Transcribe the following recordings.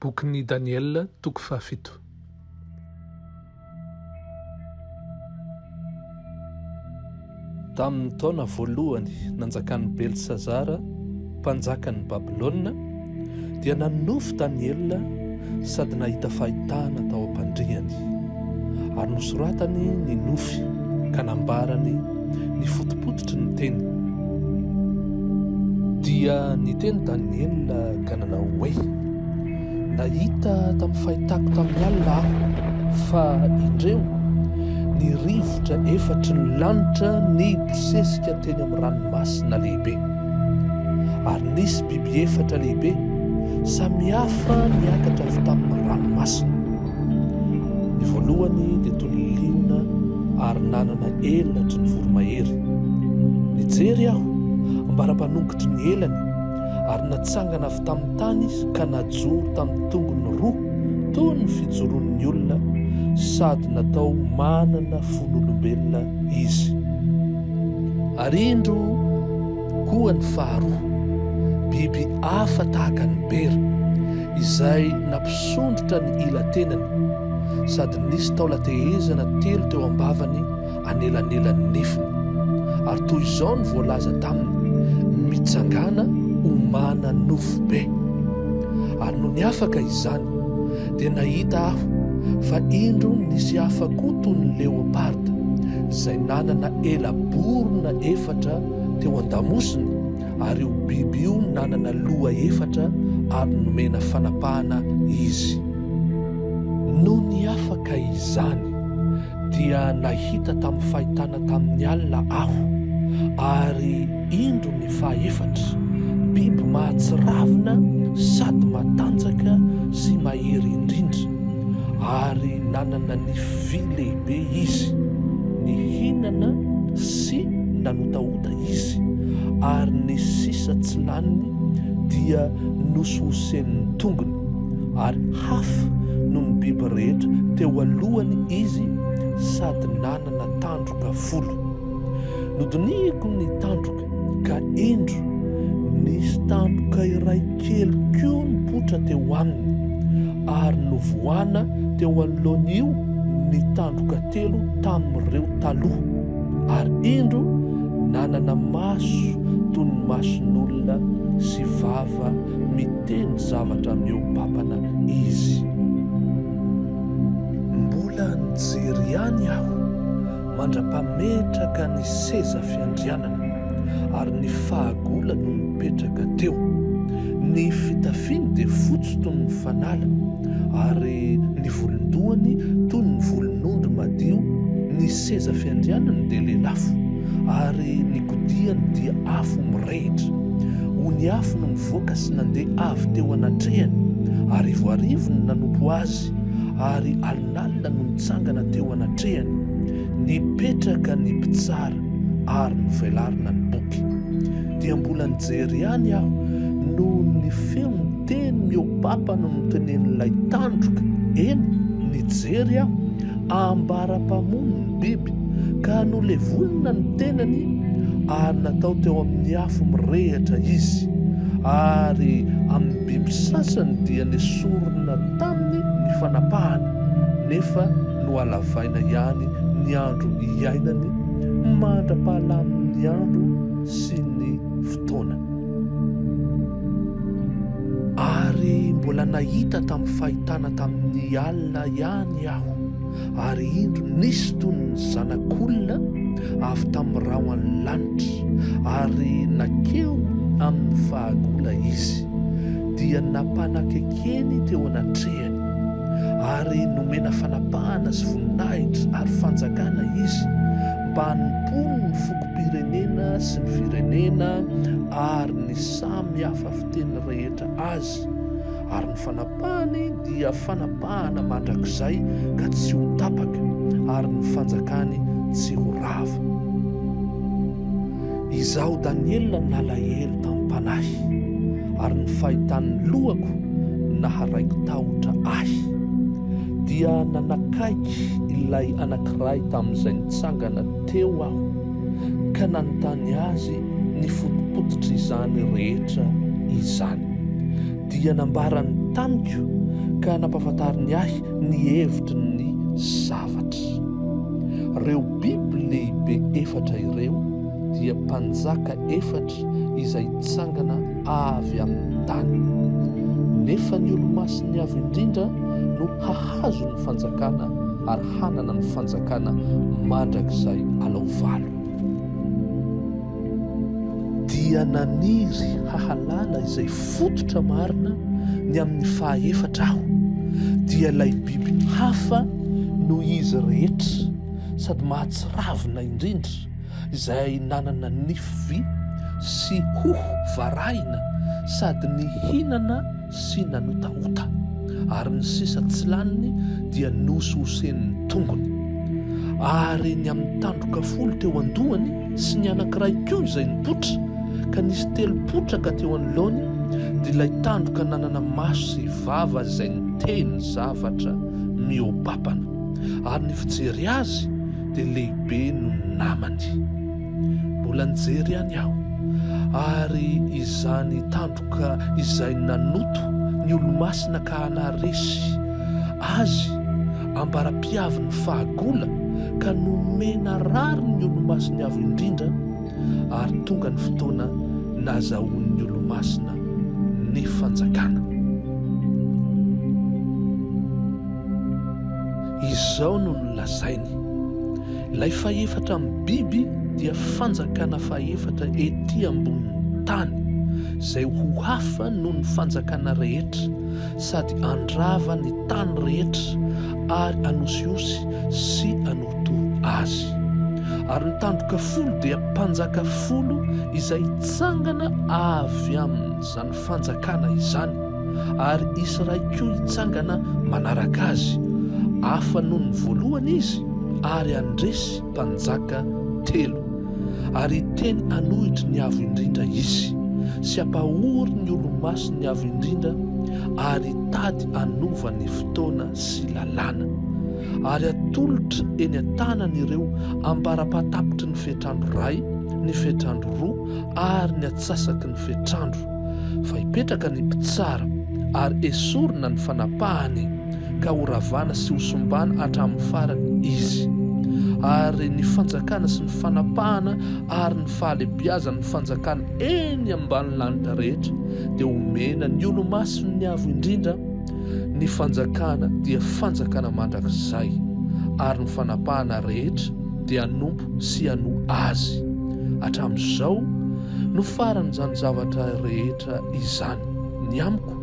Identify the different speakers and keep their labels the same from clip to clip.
Speaker 1: Bokin'i Daniela, toko fahafito. Tamin'ny taona voalohany nanjakan'i Belsazara, mpanjakan'i Babylona, dia nanonofy Daniela sady nahita fahitana tao am-pandriany. Ary nosoratany ny nofy ka nambarany ny fotopototry ny teny. Dia niteny Daniela ka nanao hoe, Nahita tamin'ny fahitako tamin'ny alina aho fa indreo ny rivotra efatry ny lanitra nibosesika teny amin'ny ranomasina lehibe. Ary nisy biby efatra lehibe samihafa niakatra avy tamin'ny ranomasina. Ny voalohany dia toy ny liona ary nanana elatry ny voromahery. Nijery aho ambara-panongotry ny elany ary natsangana avy tamin'ny tany izy ka najoro tamin'ny tongony roa toy ny fijoroan'ny olona sady natao manana fon'olombelona izy. Ary indro Koa ny faharoa, biby hafa tahaka ny bera, izay nampisondrotra ny ila-tenany, sady nisy taolan-tehezana telo teo am-bavany anelanelan'ny nifiny. Ary toy izao no voalaza taminy, Mitsangàna homana nofo be. Ary nony afaka izany, dia nahita aho fa indro nisy hafa koa toy ny leoparda, izay nanana ela-borona efatra teo an-damosiny, ary io biby io nanana loha efatra ary nomena fanapahana izy. Nony afaka izany, dia nahita tamin'ny fahitana tamin'ny alina aho, ary indro ny fahaefatra, biby mahatsiravina sady matanjaka sy mahery indrindra, ary nanana nify Vy lehibe izy, nihinana sy nanotaota izy, ary ny sisa tsy laniny dia nosohosenin'ny tongony, ary hafa noho ny biby rehetra teo alohany izy sady nanana tandroka folo. Nodinihiko ny tandroka. Ka indro, nisy tampoka iray kely koa nipoitra teo aminy, ary novohana teo anoloan'io ny tandroka telo tamin'ireo taloha. Ary indro, nanana maso toy ny mason'olona sy vava miteny zavatra mihoa-papana izy. Mbola nijery ihany aho. mandra-pametraka ny seza fiandrianana, ary ny fahagola no mipetraka teo. Ny fitafiny dia fotsy toy ny fanala, ary ny volon-dohany toy ny volon'ondry madio, ny seza fiandrianany dia lelafo, ary ny kodiany dia afo mirehitra. Ony afo no nivoaka sy nandeha avy teo anatrehany, arivoarivo no nanompo azy, ary Lalina no nitsangana teo anatrehany. Nipetraka ny mpitsara ary novelarina ny boky. Dia mbola nijery ihany aho no ny feon'ny teny mihoa-papa no notenenin'ilay tandroka, eny, nijery aho, ambara-pamono ny biby, ka nolevonina ny tenany ary natao teo amin'ny afo mirehitra izy, ary amin'ny. Biby sasany dia nesorina taminy ny fanapahany nefa nohalavaina ihany ny andro iainany mandra-pahalamin'ny andro sy ny fotoana. Ary mbola nahita tamin'ny fahitana tamin'ny alina ihany aho. Ary indro nisy toy ny zanak'olona avy tamin'ny rahon'ny lanitra, ary nankeo amin'ny fahagola izy, dia nampanakekeny teo anatrehany, ary nomena fanapahana sy voninahitra ary fanjakana izy, mba hanompoany ny fokom-pirenena sy ny firenena ary ny samy hafa fiteny rehetra azy. Andriamanitra, ary ny fanapahany dia fanapahana mandrakizay ka tsy ho tapaka, ary ny fanjakany tsy ho rava. Izaho Daniela nalahelo tamim-panahy, ary ny fahitan'ny lohako naharaiko tahotra ahy. Dia nanakaiky ilay anankiray tamin'izay nitsangana teo aho, ka nanontany azy ny fotopototr'izany rehetra izany. Dia nambarany tamiko ka nampahafantariny ahy ny hevitry ny zavatra. Reo biby lehibe efatra ireo dia mpanjaka efatra izay tsangana avy amin'ny tany. Nefa ny olomasin'ny Avo Indrindra no hahazo ny fanjakana ary hanana ny fanjakana mandrakizay alao valo. Dia naniry hahalala izay fototra marina ny amin'ny fahaefatra aho, dia ilay biby hafa noho izy rehetra sady mahatsiravina indrindra, izay nanana nify vy sy hoho varahina sady nihinana sy nanotaota, ary ny sisa tsy laniny dia nohosohosen'ny tongony. Ary ny amin'ny tandroka folo teo an-dohany sy ny anankiray koa izay nipoitra, ka nisy telo potraka teo anoloany, dia ilay tandroka nanana maso sy vava izay niteny zavatra mihoapapana, ary ny fijery azy dia lehibe noho ny namany. Mbola nijery ihany aho, ary izany tandroka. Ka izay nanoto ny olomasina ka hanaresy Azy ambara-piavin' ny fahagola ka nomena rariny ny olomasiny avo indrindra, ary tonga ny fotoana nazahoan' ny olomasina ny fanjakana. Izao no nolazainy. Ilay fahefatra amin'ny biby dia fanjakana fahefatra ety ambonin'ny tany, izay ho hafa noho ny fanjakana rehetra, sady handrava ny tany rehetra ary hanosihosy sy hanorotoro azy. Ary ny tandroka folo dia mpanjaka folo izay hitsangana avy amin'izany Fanjakana izany, ary hisy iray koa hitsangana manaraka azy, hafa noho ny voalohany izy, ary handresy mpanjaka telo. Ary hiteny hanohitry ny Avo Indrindra izy, sy hampahory ny olomasin'ny Avo Indrindra, ary hitady hanova ny fotoana sy lalàna, ary hatolotra eny an-tanany ireo ambara-pahatapitry ny fetr'andro iray, ny fetr'andro roa, ary ny antsasaky ny fetr'andro, fa hipetraka ny mpitsara, ary hesorina ny fanapahany, ka horavana sy hosombana hatramin'ny farany izy. Ary ny fanjakana sy ny fanapahana ary ny fahalebiazan'ny fanjakana eny ambanin'ny lanitra rehetra dia homena ny Olomasin'ny Avo Indrindra, ny fanjakana dia fanjakana mandrakizay, ary ny fanapahana rehetra dia hanompo sy hanoa azy. Hatramin'izao no faran'izany zavatra rehetra izany. Ny amiko,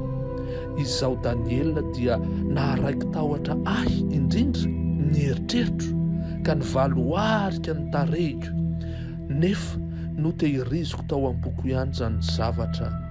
Speaker 1: izaho Daniela dia naharaiki-tahotra ahy indrindra ny eritreritro ka nivaloarika ny tarehiko, nefa notehiriziko tao am-poko ihany izany zavatra